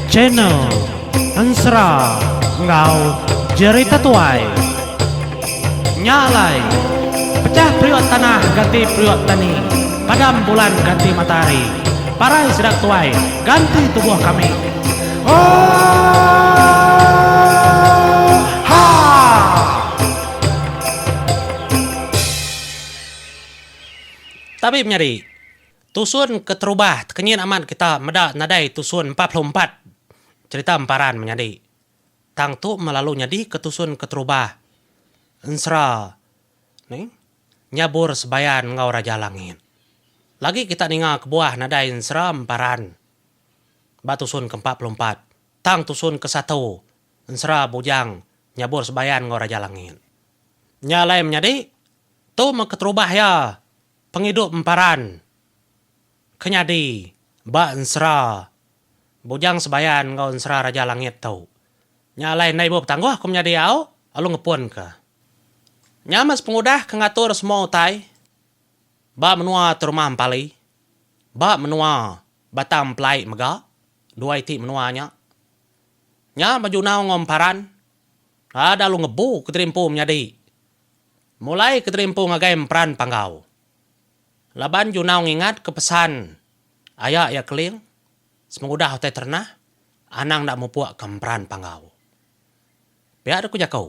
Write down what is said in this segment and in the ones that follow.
Channel Ensera enggau Jerita Tuai. Nya alai, pecah periuk tanah ganti periuk tani, padam bulan ganti matahari. Parai sida ke tuai, ganti tubuh kami. Tabib nyadi. Tusun keterubah tekenyit amat kita meda nadai tusun empat puluh empat cherita emparan menyadi. Tang tu meh lalu nyadi ke tusun keterubah ensera ni nyabur sebayan enggau Raja Langit. Lagi kita ninga kebuah nadai ensera emparan ba tusun ke empat puluh empat tang tusun ke satu ensera bujang nyabur sebayan enggau Raja Langit. Nya alai menyadi, tu meh keterubah iya. Pengidup emparan ke nyadi ba ensera Bujang Sebayan enggau ensera Raja Langit tu. Nya alai enda ibu betangguh ku menyadi au lalu ngepunka. Nya meh sepengudah ke ngatur semua utai ba menua Terumah Empali, ba menua Batang Empelai mega dua iti menua nya. Nya bejunau enggau emparan. Rad alu ngebu keterimpu menyadi mulai keterimpu ngagai emperan panggau. Laban Junau ngingatka pesan aya iya Keling, semengudah utai terenah, anang enda mupukka emperan panggau. Pia deka ku jaku.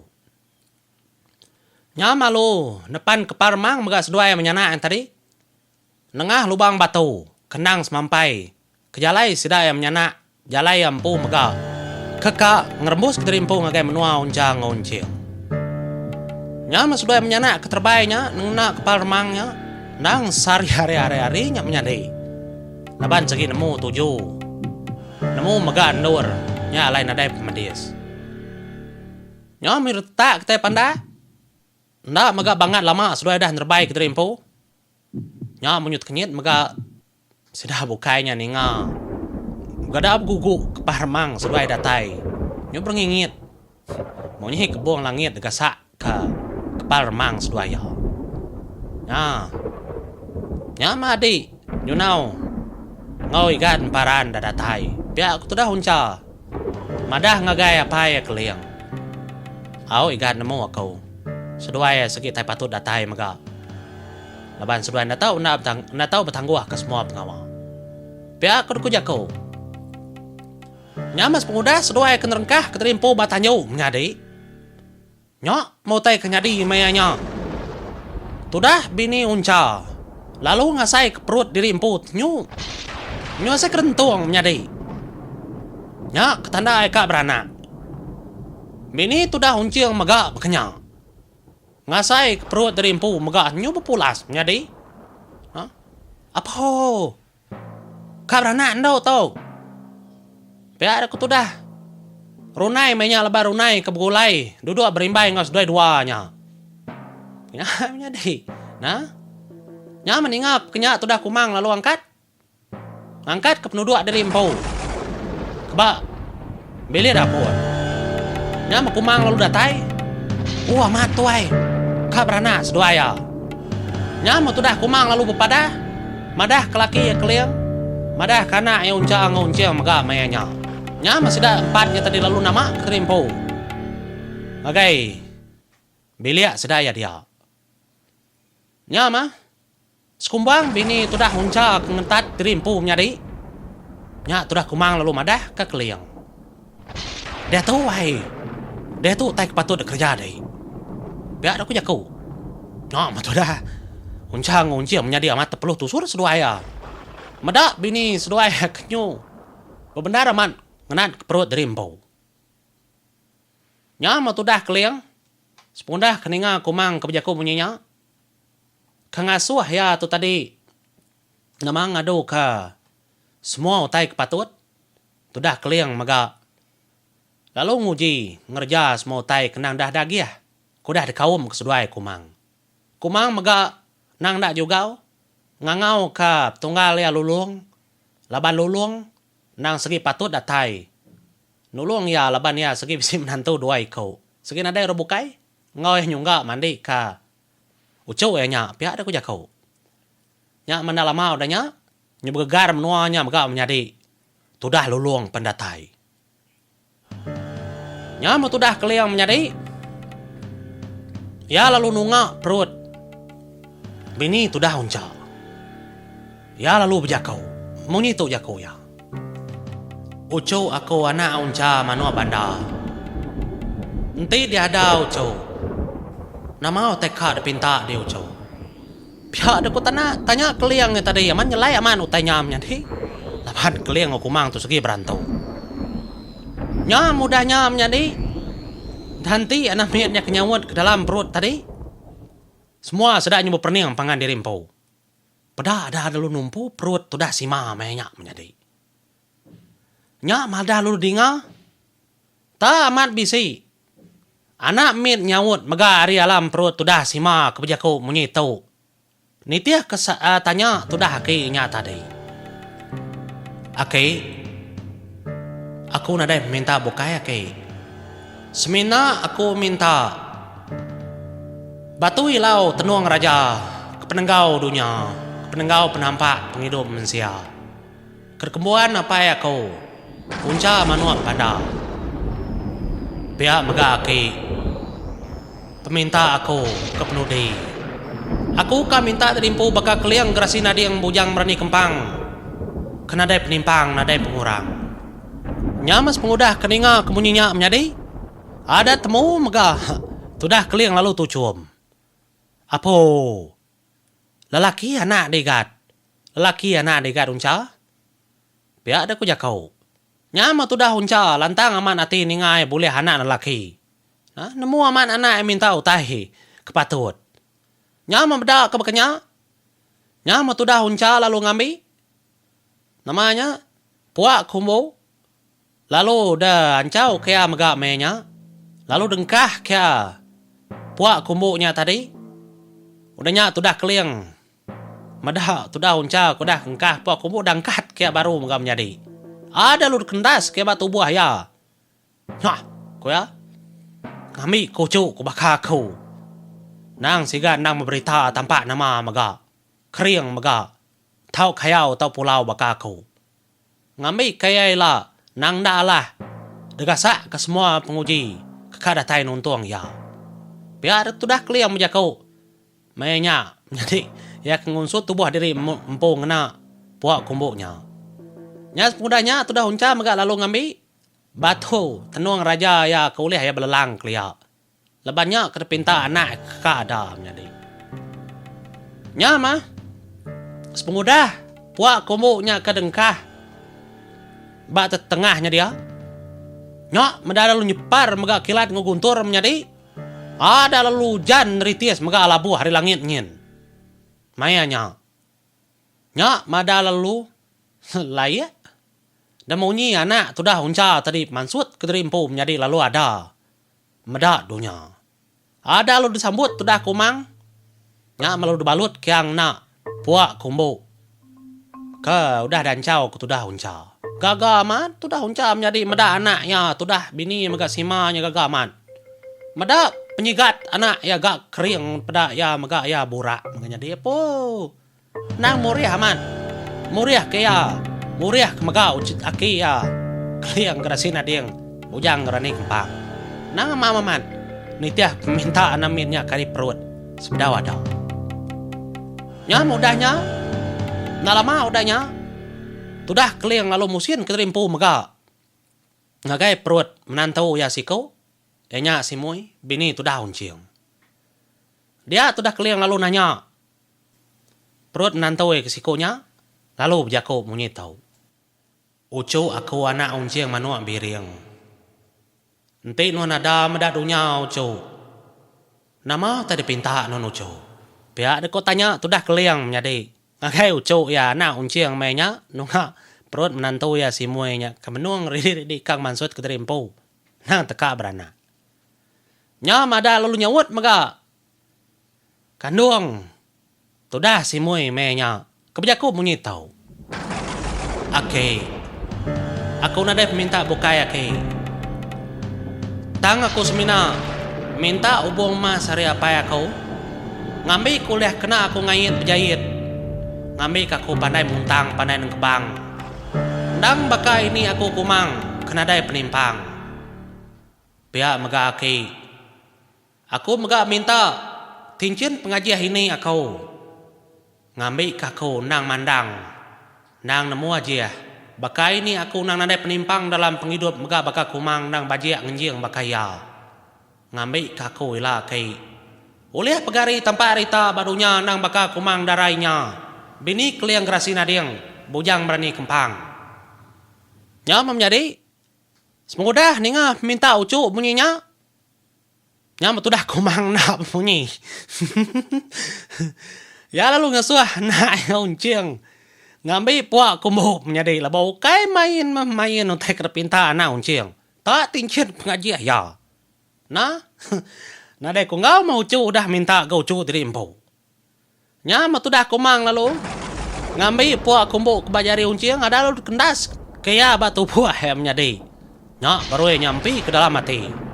Nyam alu nepanka parmang mega seduai menyana yang tadi. Nengah lubang batu, kendang semampai. Kejalai sida iya menyanak, jalai iya empu mega. Keka ngerembus kediri empu ngagai menua Unchang enggau Unching. Nya meh seduai menyanak ke terebai nya nengena kepal remang nya endang sehari hari ari-ari nya menyadi. Laban segi nemu tuju, nemu mega endur nya alai nadai pemedis. Nya mih retak kitai pandak, enda mega bangat lama seduai udah nerebai kediri empu. Nya menyut kenyit mega sida bukai nya ninga begada begugu kepah remang seduai datai nyu berengingit munyi kebung langit digasak ka kepal remang seduai iya. Nya nya meh adi nyunau enggau igan paran da datai pia ku tudah uncha. Madah ngagai apai iya Keling. Au igan nemu aku. Seduai iya sigi tai patut datai mega. Laban seduai enda tau enda enda tau betangguh ke semua pengawa. Pia ke dku jaku. Nya mas pengudah seduai ke nerengkah kediri empu ba tanju menyadi. Nya meh utai ke nyadi maya nya. Tudah bini uncha lalu ngasaika perut diri empu tenyu. Nyu asai kerentung menyadi. Nya ke tanda ai ka beranak. Bini tudah unching mega baka nya. Ngasaika perut diri empu mega nyu bepulas menyadi. Huh? Apuh. Ka beranak endu tu. Pia deka tudah. Runai meh nya lebuh runai ke begulai duduk berimbai enggau seduai dua nya. Nya meh nyadi. Nah. Nya meh ninga peka nya tudah Kumang lalu angkat. Ngangkatka penuduk diri empu. Keba. Bilik dapur. Nya meh Kumang lalu datai. Oh amat tuai. Ka beranak seduai iya. Nya meh tudah Kumang lalu bepadah madah ke laki iya Keling madah ke anak iya Uncha enggau Unching mega maya nya. Nya meh sida empat nya tadi lalu nama keri empu ngagai bilik seduai iya dia. Nya meh. Sekumbang bini tudah huncha ke ngentat diri empu menyadi. Nya tudah Kumang lalu madah ka Keling. Diatu ai. Diatu utai ke patut dek kereja dek. Pia dek ku jaku. Nya meh tudah. Huncha enggau Unjim menyadi amat tepeluh tusur seduai iya. Meda bini seduai iya ke nyu bebendar amat ngenat ke perut diri empu. Nya meh tudah Keling sepengudah ke ninga Kumang ke bejaku munyi nya. Ke ngasuh iya tu tadi nama ngaduka semua utai ke patut tudah Keling mega lalu nguji ngereja semua utai ke endang dah dagih ke udah dikaum ke seduai Kumang. Kumang mega endang enda jugau ngangauka petunggal iya Lulong laban Lulong endang segi patut datai nulung iya laban iya segi bisi menantu dua iku. Segi nadai orang bukai. Enggau iya nyungga mandi ka uchu iya nya pia deh ku jaku. Nya menda lama udah nya, nya begegar menua nya mega menyadi tudah lulung pendatai. Nya meh tudah Keling menyadi iya lalu nunga perut bini tudah uncha. Iya lalu bejaku, Munyi tu jaku iya, Uchu aku anak uncha manuk bandar. Enti diada uchu, nama utai ka dipinta di uchu? Pia deka tana tanya Keling nya tadi amat nyelai amat utai nya menyadi laban Keling enggau Kumang tu segi berantu. Nya mudah nya menyadi dah enti anak mit nya ke nyaut ke dalam perut tadi semua sida nya beperening pangan diri empu. Peda ada lalu numpu perut tudah sima meh nya menyadi. Nya madah lalu dinga ta amat bisi. Anak mit nyaut mega ari alam perut tudah sima ke bejaku munyi tu. Nitih ke tanya tudah aki nya tadi. Aki, aku nadai minta bukai aki. Semina aku minta. Batu ilau tenung raja ke penenggau dunya, ke penenggau penampak pengidup mensia. Ke dikembuan apai aku, punca manuk panda. Pia mega aki, peminta aku ke penudi. Aku ka minta ti diempu baka keling gerasi nading bujang berani kempang ke nadai penimpang nadai pengurang. Nya mas pengudah ke ninga ke munyi nya menyadi adat temu mega tudah keling lalu tuchum. Apo. Lelaki anak digat. Lelaki anak digat uncha. Pia deh ku jako. Nya meh tudah uncha lantang amat ati ninga ai bulih anak lelaki. Nah nemu amat anak ai minta utai ke patut. Nya meh meda ke baka nya. Nya meh tudah uncha lalu ngambi. Nama nya? Pua Kumbu. Lalu da anchau kea mega meh nya. Lalu dengkah kea pua Kumbu nya tadi. Udah nya tudah keling. Meda tudah uncha ke udah engkah pua Kumbu da engkat kea baru mega menyadi. Ai da lu da kendas kea ba tubuh iya. Nyah! ku iya. Ngambi kuchu ku baka aku. Nang siga endang beberita tampak nama mega. Kering mega. Tau kayau tau pulau baka aku. Ngambi ke iya ila nang enda alah degasak ke semua penguji ke ka datai nuntung iya. Pia dek tudah keling bejaku maya nya menyadi iya ke ngunsut tubuh diri empu ngena pua kumbu nya. Nya sepengudah nya tudah Uncha mega lalu ngambi batu tenung raja iya ke ulih iya belelang kelia. Leban nya ke dipinta anak ke ka ada menyadi. Nya mah, sepengudah pua ke umbu nya ke dengkah ba tetengah nya dia, nya meda lalu nyepar mega kilat enggau guntur menyadi, ada lalu ujan neritis mega alabuh ari langit nyin. Maya nya, nya meda lalu laik, da munyi anak tudah uncha tadi mansut ke diri empu menyadi lalu ada Meda dunya. Ada lalu disambut tudah kumang nya melalu dibalut kiang enda puak ke umbu ke udah dianchau ke tudah uncha. Gaga amat tudah uncha menyadi meda anak iya tudah bini mega sima nya gaga amat. Meda penyigat anak iya ga kering peda iya mega iya burak mega nyadi apuh. Nang murih amat. Murih ke iya. Murih ke mega ucut aki iya. Keling ke dasin ading. Bujang ke rani kempang. Nang amam amat. Nitih peminta anak min nya ke ari perut. Sebedau ada. Nyam udah nya. Enda lama udah nya. Tudah Keling lalu musin kediri empu mega. Ngagai perut menantu iya siku. Iya nya si Mui, bini tudah Unching. Dia tudah Keling lalu nanya. Perut nantoi ke siku nya lalu bejaku munyi tau. Uchu aku anak unjing manuk biring. Enti nuan ada meda dunya uchu, nama utai dipinta nuan uchu? Pia dek ko tanya tudah Keling menyadi ngagai uchu iya anak unjing meh nya nunga perut menantu iya Simoi nya ke menung ridi-ridi ikang mansut kediri empu endang teka beranak. Nya madah lalu nyaut mega. Kandung. Tudah simui meh nya. Ke bejaku munyi tu. Aki. Aku nadai peminta bukai aki. Tang aku semina minta ubung emas ari apai aku ngambi ku ulih kena aku ngait bejait ngambi ke aku pandai muntang pandai nengkebang. Endang baka ini aku kumang ke nadai penimpang. Pia mega aki. Aku mega minta kinchin pengajih ini aku ngambi ka aku endang mandang endang nemu ajih baka ini aku endang nadai penimpang dalam pengidup mega baka kumang endang bajik ngenjing baka iya ngambi ka aku ila ki ulih pegari tampat rita ba dunya endang baka kumang darai nya bini keling gerasi nading bujang berani kempang. Nya meh menyadi, semengudah ninga peminta uchu munyi nya, Nya meh tudah kumang enda bemunyi. Iya lalu ngesuh anak iya Unching ngambi pua kumbu menyadi laban ukai main meh main utai ke dipinta anak Unching. Ta tinchit pengajih iya. Nah, nadai ku enggau meh uchu udah minta ga uchu diri empu. Nya meh tudah Kumang lalu ngambi pua kumbu ke ba jari Unching ada lalu dikendas ke iya ba tubuh Ahem nyadi. Nya berui nyampi ke dalam ati.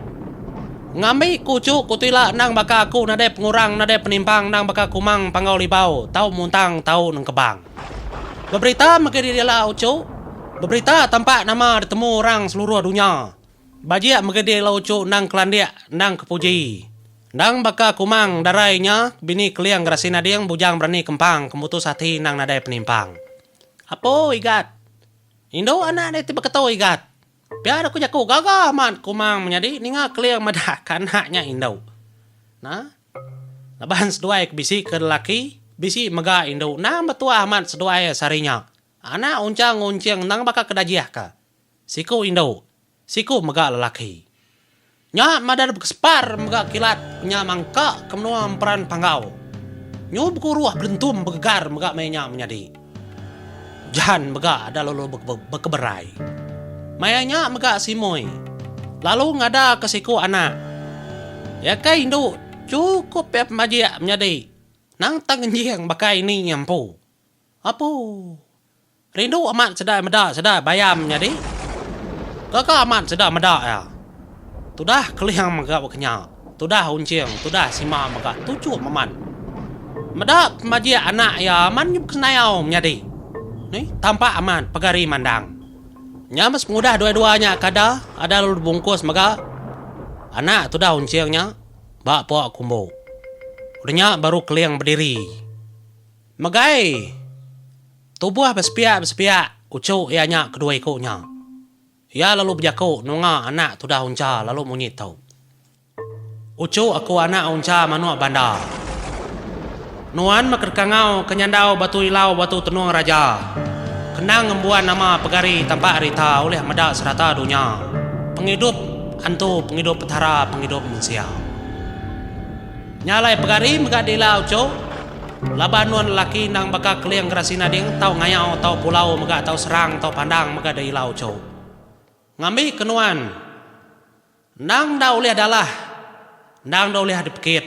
Ngambi kuchu ku Tuila endang baka aku nadai pengurang nadai penimpang endang baka Kumang Panggau Libau tau muntang tau nengkebang. Beberita mega diri ela uchu, beberita tampak nama ditemu orang seluruh dunya. Bajik mega dih lau uchu endang kelandik endang kepuji. Endang baka kumang darai nya bini keling gerasi nading bujang berani kempang kemutus ati endang nadai penimpang. Apo Igat. Indu anak dih ti beketu Igat. Pia deh ku jaku gaga amat kumang menyadi ninga keling madah ke anak nya indu. Nah. Laban seduai ke bisi ke lelaki bisi mega indu endang betuah amat seduai sehari nya. Anak Unchang ngunching endang baka ke dajih ka, siku indu, siku mega lelaki. Nya madah bekesepar mega kilat nya mangka ke menua emperan Panggau. Nyu bekuruh belentum begegar mega meh nya menyadi. Jan mega ada lalu bekeberai. Maya nya mega Simoi lalu ngada ke siku anak. Iya ke indu chukup pia pemajik menyadi nang tang ngenjing baka ini nya empu. Apu. Rindu amat sedai meda sedai bayam nyadi. Gaga amat sedai meda iya. Tudah keling mega bekenya. Tudah unching, tudah sima mega tuchup amat. Meda pemajik anak iya amat nyup kesenayau menyadi. Ni tampak amat pegari mandang. Nya meh sepengudah dua-dua nya ke ada, ada lalu dibungkus mega anak tudah unching nya ba pok kumbu. Udah nya baru keling bediri. Megai! Tubuh besepiak-besepiak uchu iya nya kedua iku nya. Iya lalu bejaku nunga anak tudah uncha lalu munyi tu. Uchu aku anak uncha manuk bandar. Nuan meh kedekangau ke nyandau batu ilau batu tenung raja. Kenang ngembuan nama pegari tapak rita ulih meda serata dunya, pengidup antu pengidup petara pengidup mensia. Nya alai pegari mega dila uchu laban nuan lelaki endang baka keling gerasi nading tau ngayau tau pulau mega tau serang tau pandang mega da ila uchu. Ngambi ke nuan endang enda ulih dalah endang enda ulih dipekit.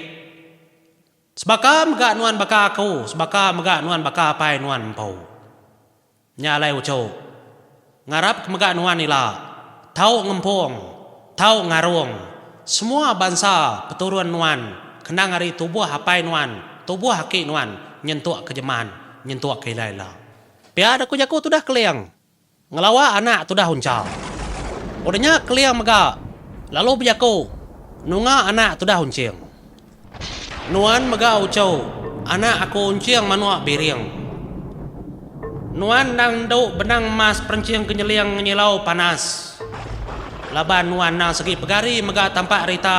Sebaka mega nuan baka aku sebaka mega nuan baka apai nuan empu. Nya alai uchu. Ngarap ke mega nuan ila tau ngempung, tau ngarung semua bansa peturun nuan kenang ari tubuh apai nuan, tubuh aki nuan nyentuk ke jeman, nyentuk ke ila ila. Pia da ku jaku tudah Keling, ngelawa anak tudah uncha. Udah nya Keling mega lalu bejaku nunga anak tudah unching. Nuan mega uchu, anak aku enching manuk biring. Nuan endang endu benang emas perenching ke nyeling ngenyilau panas. Laban nuan endang segi pegari mega tampak rita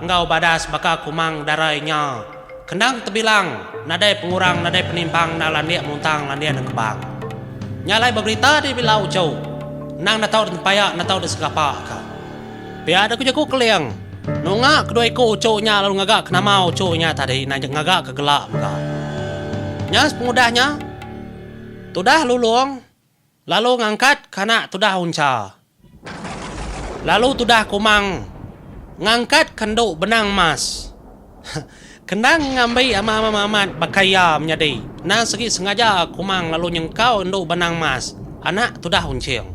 enggau badas baka kumang darai nya ke endang tebilang nadai pengurang nadai penimpang enda landik muntang landik nekebang. Nya alai beberita dibila uchu, endang enda tau ditempaya enda tau disegapak ka. Pia deka jaku Keling. Nunga kedua iku uchu nya lalu ngaga ke nama uchu nya tadi ina nya ngaga ke gela mega. Nya sepengudah nya tudah Lulong lalu ngangkat ke anak tudah Uncha lalu tudah Kumang ngangkat ke endu benang emas. Kenang ngambi ama Amang Mamat baka iya menyadi endang segi sengaja Kumang lalu nyengkau endu Benang Mas anak tudah Unching.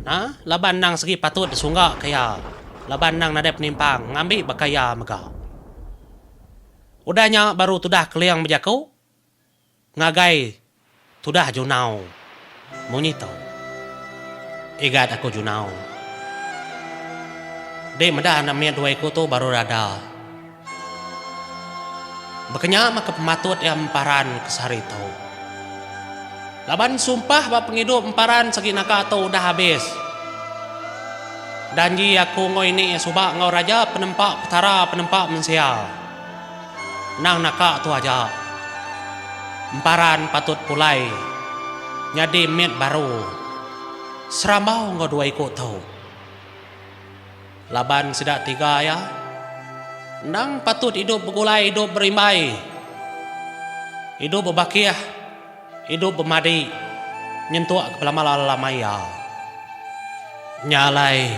Na laban endang segi patut disunggaka iya laban endang nadai penimpang ngambi baka iya mega. Udah nya baru tudah Keling bejaku. Ngagai tudah junau munyi tu. Igat aku junau. Di meda anak mit dua iku tu baru rada. Bekenya maka pematut iya emparan ke sehari tu. Laban sumpah ba pengidup emparan segi naga tu udah abis. Janji aku enggau ini suba enggau raja penempa petara penempa mensia. Nang naka tu aja. Emparan patut pulai nyadi mit baru serambau enggau dua iku tu. Laban sida tiga iya endang patut idup begulai idup berimbai, idup bebakih. Idup bemadi nyentuk ke pelamal alam maia nya alai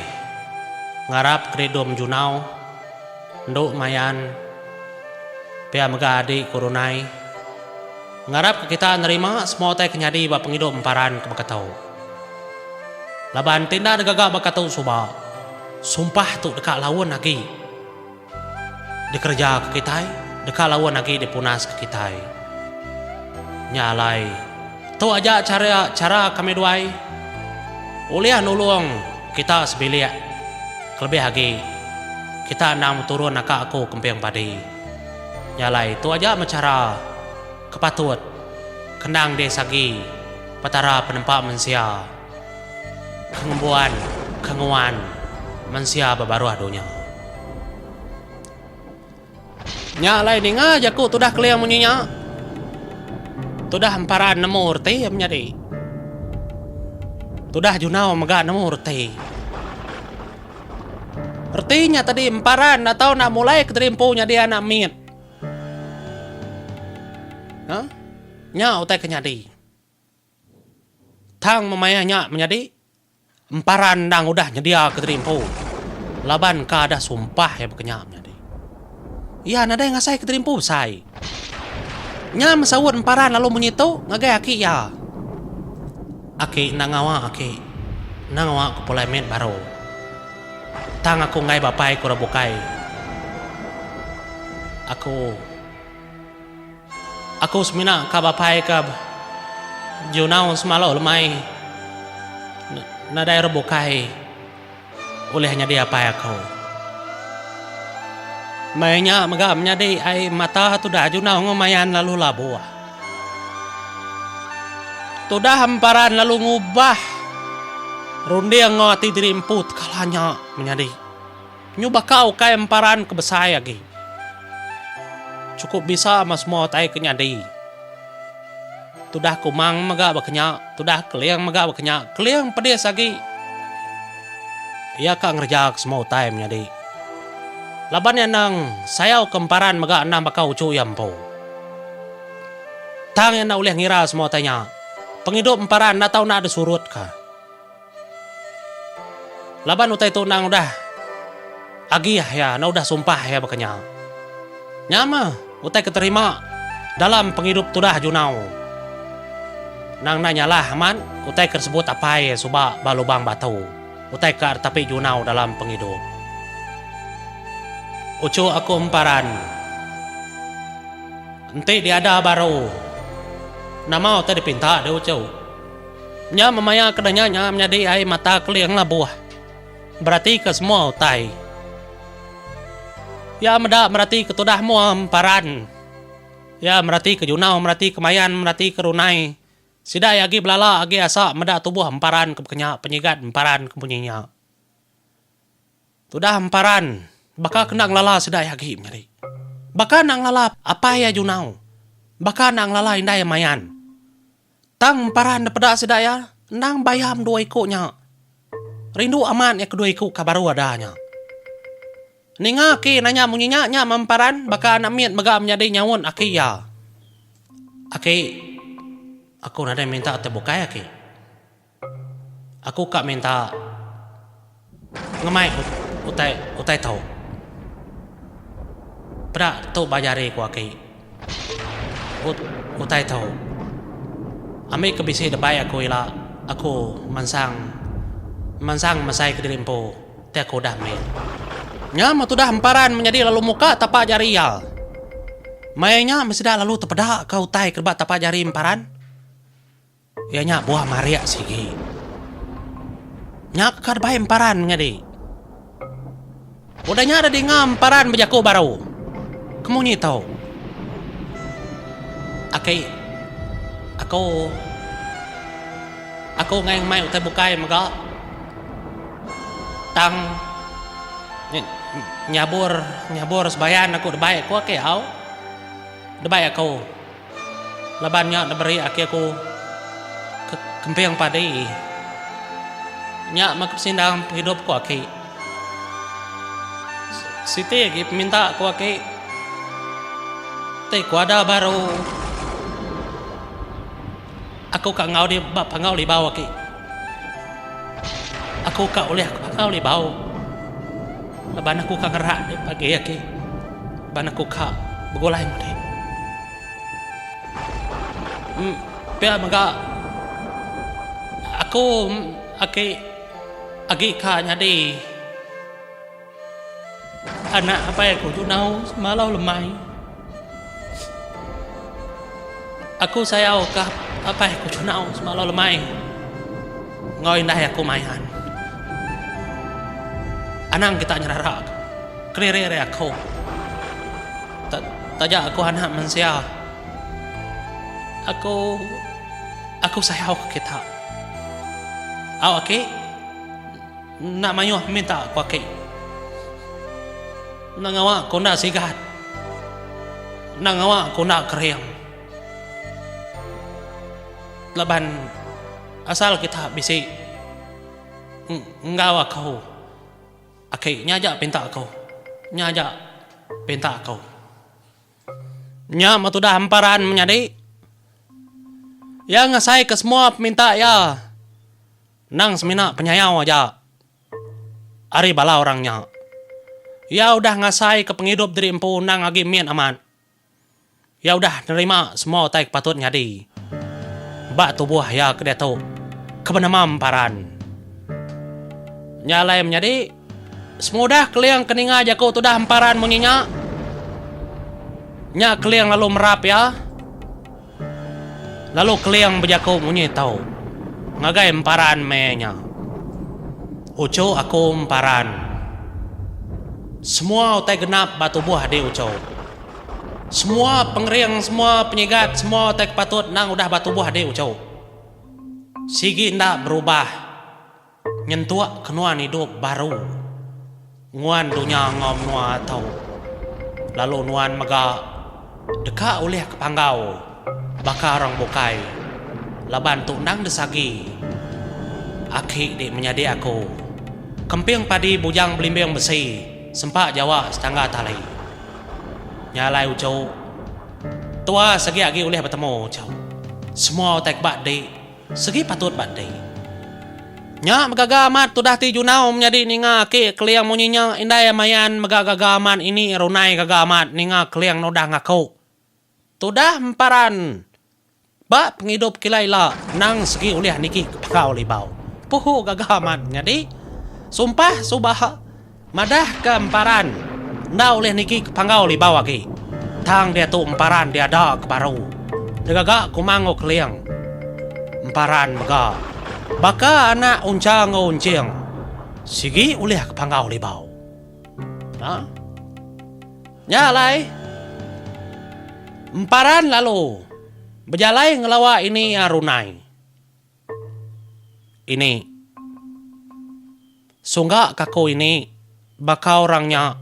ngarap keridum junau endu mayan pia mega adi ku Runai ngarap ke kita nerima semua utai ke nyadi ba pengidup emparan ke baka tu laban ti enda negaga baka tu suba sumpah tu deka laun agi. Dikereja ke kitai, deka laun agi dipunas ke kitai. Nya alai, tu aja chara chara kami duai ulih nulung kita sebilik kelebih agi kita endang beturun naka aku kemping padi. Nya alai, tu aja meh chara ke patut ke endang disagi Petara Penempa Mensia. Pengembuan ke nguan mensia ba baruh dunya. Nya alai ninga jaku tudah Keling munyi nya. Tudah emparan nemu reti iya menyadi. Tudah junau mega nemu reti. Reti nya tadi emparan atau enda mulai kederimpu nyadi anak mit. Huh? Nya utai ke nyadi. Tang memayuh nya menyadi, Empara endang udah nyediaka diri empu laban ka deh sumpah iya baka nya menyadi. Iya nadai ngasaika diri empu besai. Nya mesaut Empara lalu munyi tu ngagai aki iya, Aki enda ngawa aki, enda ngawa aku pulai mit baru. Tang aku enggai bapaiku rak bukai aku. Aku semina ka bapai ka Junau Semalu lemai nadai orang bukai ulih nyadi apai aku. Meh nya mega menyadi ai mata tudah Junau enggau Mayan lalu labuh. Tudah emparan lalu ngubah runding enggau ati diri empu tekala nya menyadi. Nyu baka ukai emparan ke besai agi. Chukup bisa meh semua utai ke nyadi. Tudah kumang mega baka nya, tudah keling mega baka nya, keling pedis agi. Iya ka ngereja ke semua utai menyadi. Laban iya endang sayau ke emparan mega endang baka uchu iya empu. Tang iya enda ulih ngira semua utai nya. Pengidup emparan enda tau enda ada surut ka. Laban utai tu endang udah agi iya enda udah sumpah iya baka nya. Nya meh utai ke terima dalam pengidup tudah Junau. Endang enda nyalah amat utai ke disebut apai iya suba ba Lubang Batu, utai ka ditapi Junau dalam pengidup. Uchu aku emparan, enti diada baru, nama utai dipinta deh uchu. Nya memaya ke danya nya menyadi ai mata keling labuh merati ke semua utai. Iya meda merati ke tudah mua emparan. Iya merati ke junau, merati ke mayan, merati ke runai. Sida iya agi belala agi asa meda tubuh emparan ke bekenya penyigat emparan ke munyi nya. Tudah emparan, baka kena ngelala sedai agi menyadi. Baka enda ngelala apai iya junau, baka enda ngelala indai iya mayan. Tang emparan da peda sida iya endang bayam dua iku nya. Rindu amat iya kedua iku ka baru ada nya. Ninga aki nanya munyi nya, nya meh emparan baka anak mit mega menyadi nyaut aki iya. Aki, aku nadai minta ti bukai aki. Aku ka minta ngemai utai utai tu. Peda tu ba jari ku aki. Ut utai tu. Ambi ke bisi debai aku ila aku mansang mansang mesai kediri empu ti aku udah meh. Nya meh tudah emparan menyadi lalu muka tapak jari iya. Maya nya meh sida lalu tepeda ka utai ke ba tapak jari emparan. Iya nya buah marik sigi. Nya ka bai emparan nyadi. Udah nya ada dinga emparan bejaku baru. Kemunyi tu. Aki. Aku. Aku ngai mai utai bukai mega. Tang nyabur nyabur sebayan aku dibai aku aki au. Dibai aku. Laban nya diberi aki aku ke kemping padi. Nya meh ke pesindang pengidup ku aki. Siti agi peminta ku aki ti kuada baru aku ka enggau dia ba pangau libau aki. Aku ka ulih aku baka ulih bau laban aku ka ngerak dep agi agi laban aku ka begulai mudi. Em pia mega aku agi agi ka nyadi. Anak apai aku tu nau semalau lemai. Aku sayau ka apai aku tu nau semalau lemai enggau indai aku main. Anang kita nyerara ka kediri ari aku. Taja aku anak mensia aku aku sayau ka kita. Au aki. Enda mayuh peminta ku aki. Enda ngawa ku enda sigat. Enda ngawa ku enda kering. Laban asal kita bisi enggau aku aki nya aja pinta aku. Nya aja pinta aku. Nya meh tudah emparan menyadi. Iya ngasaika semua peminta iya. Endang semina penyayau aja ari bala orang nya. Iya udah ngasaika pengidup diri empu endang agi mit amat. Iya udah nerima semua utai ke patut nyadi ba tubuh iya ke diatu ke benama emparan. Nya alai menyadi, semudah Keling ke ninga jaku tudah emparan munyi nya, nya Keling lalu merap iya. Lalu Keling bejaku munyi tau ngagai emparan meh nya, Uchu aku emparan. Semua utai genap ba tubuh adi uchu. Semua pengering, semua penyigat, semua utai ke patut endang udah ba tubuh adi uchu. Sigi enda berubah. Nyentuk ke nuan idup baru nguan dunya enggau menua tu lalu nuan mega deka ulih ke panggau baka orang bukai laban tu endang disagi aki di menyadi aku kemping padi bujang belimbing besi sempa jawa setangga tali nya alai uchu tua segi agi ulih betemu uchu semua utai ke ba di. Segi patut ba enti. Nya begaga amat tudah ti Junau menyadi ninga aki keling munyi nya indai mayan mega gaga amat ini runai gaga amat ninga keling nudah ngaku tudah emparan ba pengidup kila ila endang segi ulih niki ke pakau libau puhu gaga amat menyadi sumpah suba Madah ke emparan enda ulih niki ke panggau libau agi. Tang diatu emparan diada ke baru degaga kuma enggau keling. Emparan mega baka anak uncha enggau unching sigi ulih ke panggau libau. Ha. Nya alai emparan lalu bejalai ngelawa ini iya runai. ini. Sungga ke aku ini baka orang nya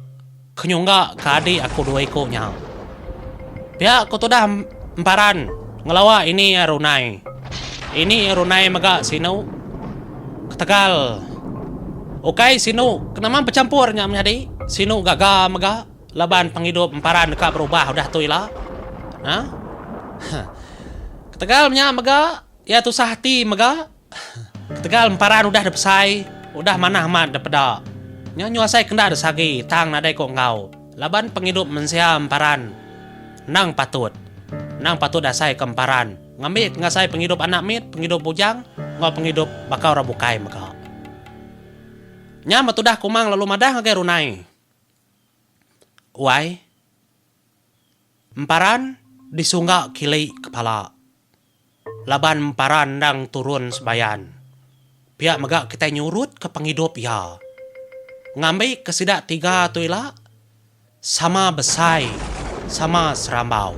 ke nyungga ke adik aku dua iko nya. Pia ku tudah emparan ngelawa ini iya runai. Ini iya runai mega sinu ketegal ukai sinu ke nama bechampur nya menyadi sinu gaga mega laban pengidup emparan deka berubah udah tu ila. Hah. Ketegal nya mega Iya tusah ati mega ketegal emparan udah depesai, udah manah amat depeda. Nya nyu asai kenda desagi tang nadai ko enggau laban pengidup mensia emparan endang patut. Endang patut diasai ke emparan ngambi ke ngasai pengidup anak mit, pengidup bujang enggau pengidup baka orang bukai mega. Nya betudah kumang lalu madah ngagai runai. Uai, emparan disungga kili kepala. Laban empara endang turun sebayan, pia mega kitai nyurutka pengidup iya. Ngambika sida tiga tu ila sama besai, sama serambau.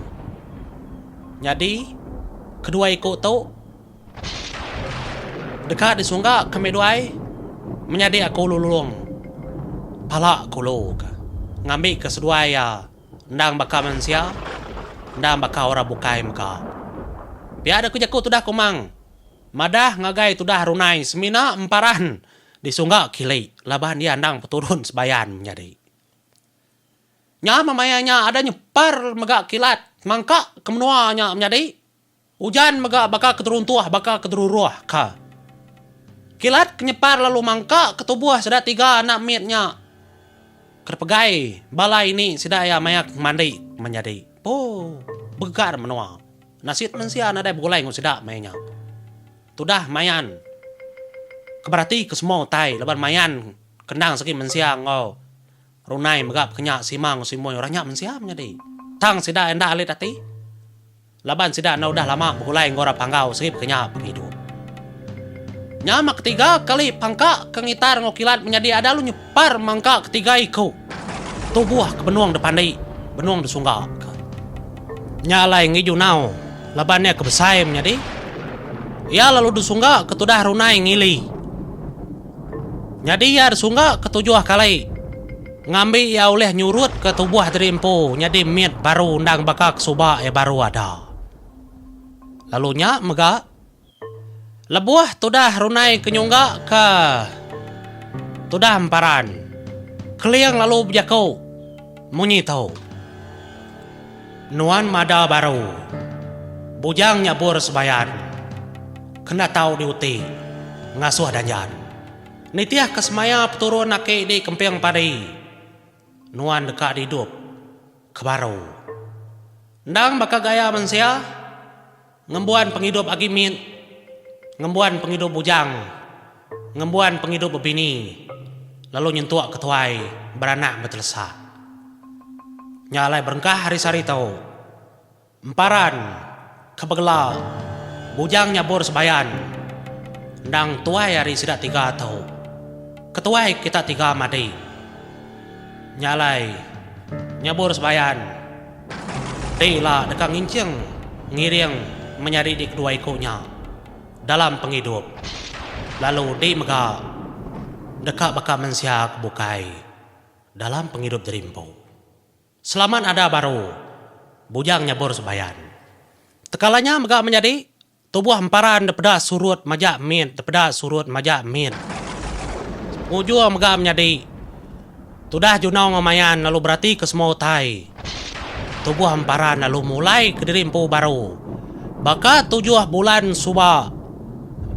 Nyadi, kedua iku tu deka disunggaka mih duai menyadi aku Lulong, Pala Kulu, ngambika seduai iya. endang baka mensia, endang baka orang bukai mega. Pia deka jaku tudah Kumang madah ngagai tudah Runai semina emparan di Sungga Kili laban iya endang peturun Sebayan menyadi. Nya meh maya nya ada nyepar mega kilat mangka ke menua nya menyadi. Ujan mega baka ke teruntuh baka ke teruruh ka. Kilat ke nyepar lalu mangka ke tubuh sida tiga anak mit nya ke dipegai bala ini sida iya maya ke mandi menyadi. Poo. Begegar menua. Nasit mensia nadai begulai enggau sida maya nya. Tudah Mayan ke berati ke semua utai laban Mayan ke endang segi mensia enggau Runai mega pekenya sima enggau simoi orang nya mensia menyadi. Tang sida iya enda alit ati. Laban sida enda udah lama begulai enggau orang Panggau serip ke nya pengidup. Nya mah ketiga kali pangka ke ngitar enggau kilat menyadi ada lu nyepar mangka ketiga iku tubuh ke benung depandi, benung desungga ke. Nya alai enggi Junau laban iya ke besai menyadi. Iya lalu desungga ke tudah runai ngili. Nyadi iya desungga ke tujuh kali. Ngambi iya ulih nyurutka tubuh diri empu nyadi mit baru endang baka ke suba iya baru ada. Lalu nya mega lebuh tudah Runai ke nyungga ke tudah emparan, Keling lalu bejaku munyi tu, Nuan mada baru, bujang nyabur sebayan, kenda tau diuti ngasuh danjan. Nitih ke semaya peturun aki di kemping padi nuan deka didup ke baru. Endang baka gaya mensia ngembuan pengidup agi mit ngembuan pengidup bujang ngembuan pengidup bebini lalu nyentuk ke tuai beranak betelesa. Nya alai berengkah hari sehari tu. Emparan, ke begelar Bujang Nyabur Sebayan endang tuai ari sida tiga tu. Ketuai kita tiga madi nya alai Nyabur Sebayan ti ila deka nginching ngiring menyadi dikedua iku nya dalam pengidup lalu di mega deka baka mensia ke bukai dalam pengidup jeri empu. Selamat ada baru. Bujang nyabur sebayan. Tekala nya mega menyadi, tubuh emparan depeda surut majak mit depeda surut majak mit. Pengujur mega menyadi, tudah Junau enggau Mayan lalu berati ke semua utai, tubuh emparan lalu mulai ke diri empu baru. Baka tujuh bulan suba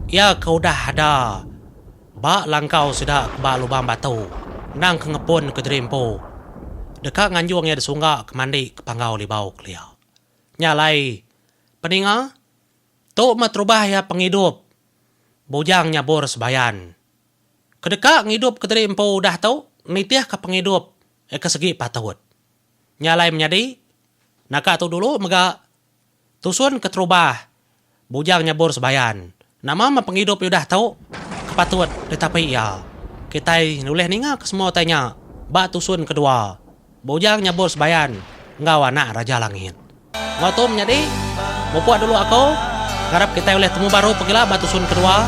iya ke udah ada Ba langkau sida ke ba lubang batu, endang ke ngepun ke jeri empu, deka nganjung iya disungga ke mandi ke panggau libau kelia. Nya alai, peninga, tu meh terubah iya pengidup bujang nyabur sebayan. Ke deka ngidup ke jeri empu udah tu nitihka pengidup iya ke segi patut. Nya alai menyadi, naka tu dulu mega Tusun keterubah bujang nyabur sebayan. Nama meh pengidup iya udah tu ke patut ditapi iya. Kitai ulih ninga ke semua utai nya ba tusun kedua bujang nyabur sebayan enggau anak Raja Langit. Enggau tu menyadi, mupuk dulu aku ngarap kitai ulih temu baru pegila ba tusun kedua.